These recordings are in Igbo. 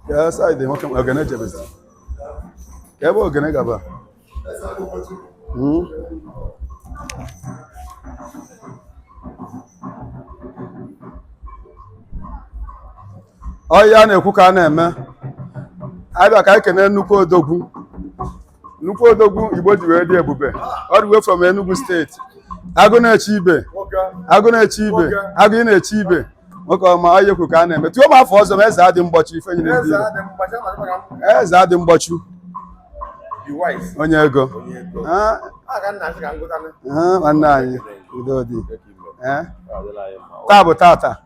Ya side nwoke m, ogene jebezi. Ka ebe ogene gaba. Hmm? Ọ ihe a na-ekwu ka a na-eme. Abịa ka e kenee nnukwu odogwu. nnukwu odogwu Igbo ji wee dị ebube all the way from Enugu State agụ na-eche ibe agụ na-eche ibe agụ na-eche ibe nwoke ọma onye kwu ka a na-eme tuo m afọ ọzọ ma eze adị mgbochi ife nyere ndị Igbo. eze adị mgbochi onye ego Ah, ah, nwanne anyị udo dị Eh? taa bụ tata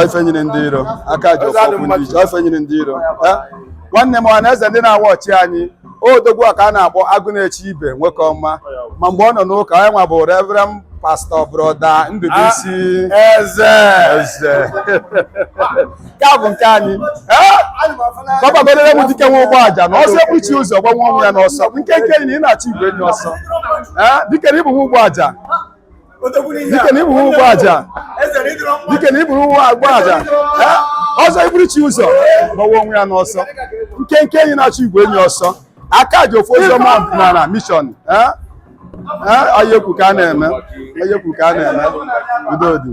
ife nyere ndị iro aka ji ofu okwu ndị iche ife nyere ndị iro eh? nwanne m ọha na eze ndị na-awa ọchị anyị odogwu a ka a na-akpọ agụ na-eche ibe nwoke ọma ma mgbe ọ nọ n'ụka onye nwa bụ reverend pastor brother Ndubuisi ah, eze eze nke a bụ nke anyị gbabagorere eh? m dike nwa ụgbọ aja na ọzọ eburu chi ụzọ gbanwụọ onwe ya n'ọsọ nkenke enyi na-achụ igwe enyi ọsọ dike na ịbụ nwa ụgbọ aja dike na iburu ụgbọ aja dike na iburu ụgbọ agba aja ọzọ iburu chi ụzọ gbawa onwe ya n'ọsọ nkenke enyi na-achụ igwe enyi ọsọ aka ji ofu ụzọ ma nara mission onye kwu ka a na-eme onye kwu ka a na-eme udo dị